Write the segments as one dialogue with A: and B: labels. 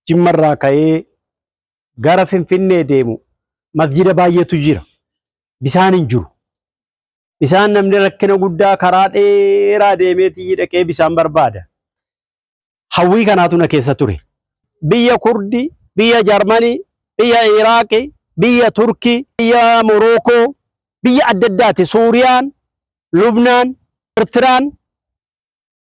A: Jimmarraa ka'ee gara Finfinnee deemu masjida baay'eetu jira. Bisaan hin jiru. Bisaan namni rakkina guddaa karaa dheeraa deemeetii dhaqee bisaan barbaada. Hawwii kanaatu na keessa ture. Biyya Kurdi, biyya Jarmanii, biyya Iraaqi, biyya Turkii, biyya Morookoo, biyya adda addaati. Suuriyaan, Lubnaan, Ertiraan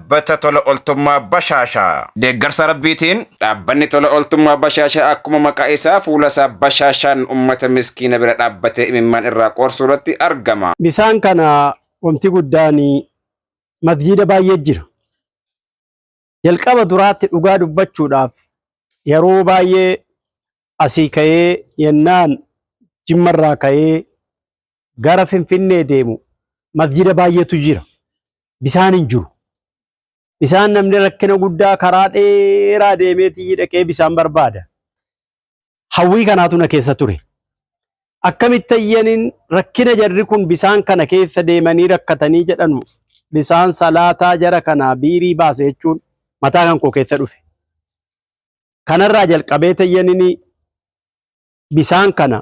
B: Dhaabbata Tola Oltummaa Bashaashaa. Deeggarsa Rabbiitiin. Dhaabbanni Tola Oltummaa Bashaashaa akkuma maqaa isaa fuula isaa bashaashaan ummata miskiina bira dhaabbatee imimmaan irraa qoorsuu irratti argama. Bisaan kana
A: wamti guddaan masjiida baay'ee jira. Jalqaba duraatti dhugaa dubbachuudhaaf yeroo baay'ee asii ka'ee yennaan jimmarraa ka'ee gara Finfinnee deemu masjida baay'eetu jira. Bisaan hin jiru. Bisaan namni rakkina guddaa karaa dheeraa deemeetii dhaqee bisaan barbaada. Hawwii kanaatu na keessa ture. Akkamitti ayyaniin rakkina jarri kun bisaan kana keessa deemanii rakkatanii jedhanu bisaan salaataa jara kanaa biirii baase jechuun mataa kan koo keessa dhufe. Kanarraa jalqabee tayyaniin bisaan kana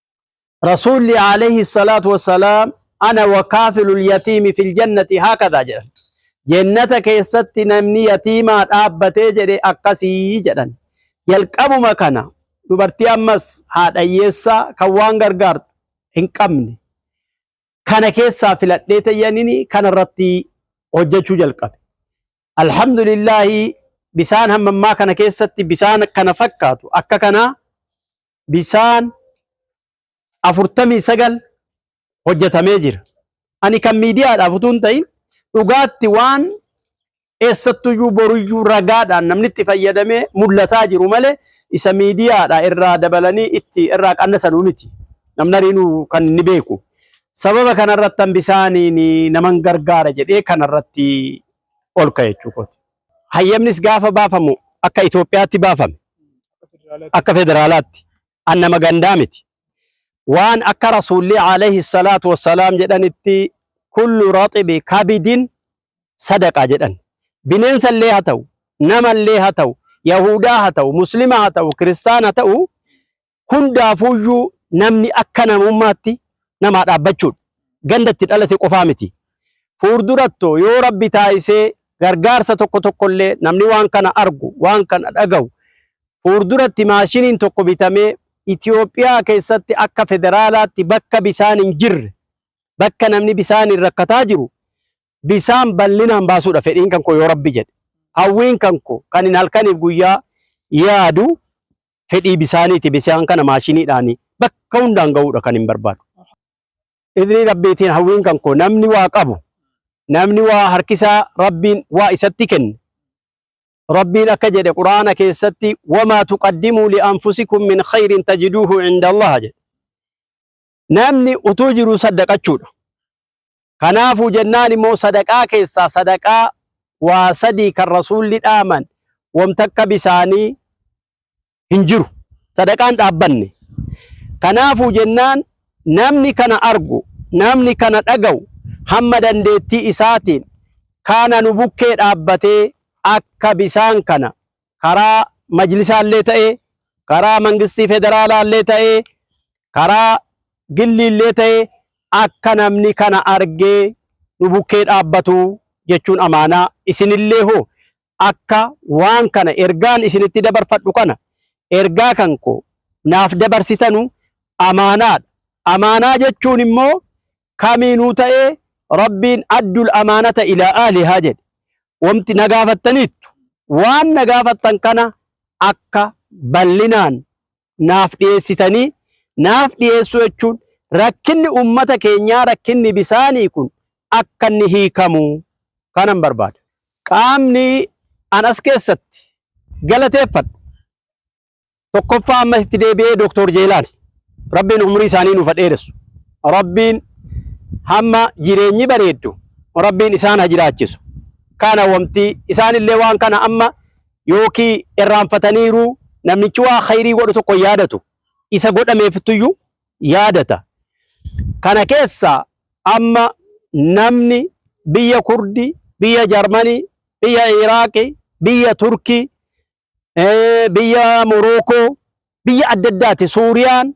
A: Rasuulli alayhi salaatu wassalaam ana wa kaafilul yatiimi fil jannati haakadhaa jedhan. Jennata keessatti namni yatiimaa dhaabbatee jedhe akkasii jedhan. Jalqabuma kana dubartii ammas haadha hiyyeessaa kan waan gargaartu hin qabne kana keessaa filadhee tayyanini kana irratti hojjechuu jalqabe. Alhamdulillaahi bisaan hammammaa kana keessatti bisaan kana fakkaatu akka kanaa bisaan 49 hojjetamee jira. Ani kan miidiyaadhaaf utuu hin ta'in dhugaatti waan eessattuyyuu boruyyuu ragaadhaan namni itti fayyadamee mul'ataa jiru malee isa miidiyaadha irraa dabalanii itti irraa qannasanuu miti. Namni ariinuu kan inni beeku. Sababa kanarratti bisaaniin naman gargaara jedhee kanarratti ol ka'e jechuudha. Hayyamnis gaafa baafamu akka Itoophiyaatti baafame. Akka federaalaatti. An nama gandaa miti. Waan akka Rasuulli alayhi salaatu wassalaam jedhanitti kullu raxibi kabidin sadaqaa jedhan. Bineensa illee haa ta'u, nama illee haa ta'u, Yahuudaa haa ta'u, Muslima haa ta'u, Kiristaana haa ta'u, hundaafuuyyuu namni akka namummaatti namaa dhaabbachuudha. Ganda itti dhalate qofaa miti. Fuurduratto yoo rabbi taayisee gargaarsa tokko tokkollee namni waan kana argu, waan kana dhagahu fuurduratti maashiniin tokko bitamee Itoophiyaa keessatti akka federaalaatti bakka bisaan hin jirre, bakka namni bisaaniin rakkataa jiru bisaan bal'inaan baasuudha fedhiin kan koo yoo rabbi jedhe. Hawwiin kan koo kan hin halkaniif guyyaa yaadu fedhii bisaaniiti bisaan kana maashiniidhaan bakka hundaan ga'uudha kan hin barbaadu. Idrii rabbiitiin hawwiin kan koo namni waa qabu namni waa harkisaa rabbiin waa isatti kenne rabbiin akka jedhe quraana keessatti wamaa tuqaddimuu li'anfusikum min khayrin tajiduuhu inda allaha jedhe namni utuu jiru saddaqachuudha. Kanaafuu jennaan immoo sadaqaa keessaa sadaqaa waa sadii kan rasuulli dhaaman wanta akka bisaanii hin jiru. Sadaqaan dhaabbanne. Kanaafuu jennaan namni kana argu, namni kana dhaga'u hamma dandeettii isaatiin kaana nu bukkee dhaabbatee akka bisaan kana karaa majlisaallee ta'ee karaa mangistii federaalaallee ta'ee karaa gilliillee ta'ee akka namni kana argee nu bukkee dhaabbatu jechuun amaanaa isinillee hoo akka waan kana ergaan isinitti dabarfadhu kana ergaa kan koo naaf dabarsitanu amaanaadha. Amaanaa jechuun immoo kamiinuu ta'ee Rabbiin addul amaanata ilaa ahlihaa jedhe. Wamti na gaafattaniittu waan na gaafattan kana akka bal'inaan naaf dhiyeessitanii naaf dhiyeessuu jechuun rakkinni ummata keenyaa rakkinni bisaanii kun akka inni hiikamu kanan barbaada. Qaamni an as keessatti galateeffadhu tokkoffaa ammas itti deebi'ee Dooktor Jeelaan rabbiin umurii isaanii nuuf dheeressu rabbiin hamma jireenyi bareeddu rabbiin isaan ha jiraachisu kana wamti isaan illee waan kana amma yookii irraanfataniiru namichi waa khayrii godhu tokko yaadatu isa godhameefittuyyu yaadata kana keessa amma namni biyya kurdi biyya jarmanii biyya iraaqi biyya turkii eh, biyya Morookoo, biyya adda addaati. Suuriyaan,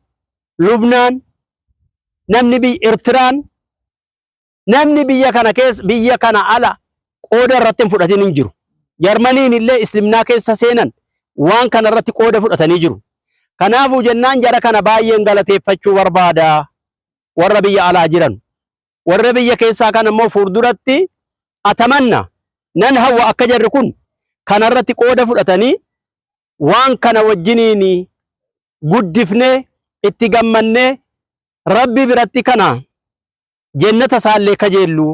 A: Lubnaan, namni biyya Ertiraan, namni biyya kana keessa biyya kana ala qooda irratti hin fudhatin hin jiru. Jarmaniin illee Islimnaa keessa seenan waan kana irratti qooda fudhatanii jiru. Kanaafuu jennaan jara kana baay'een galateeffachuu barbaada warra biyya alaa jiran. warra biyya keessaa kan ammoo fuulduratti atamanna nan hawwa akka jarri kun kanarratti qooda fudhatanii waan kana wajjiniin guddifnee itti gammannee rabbi biratti kana jennata isaallee kajeelluu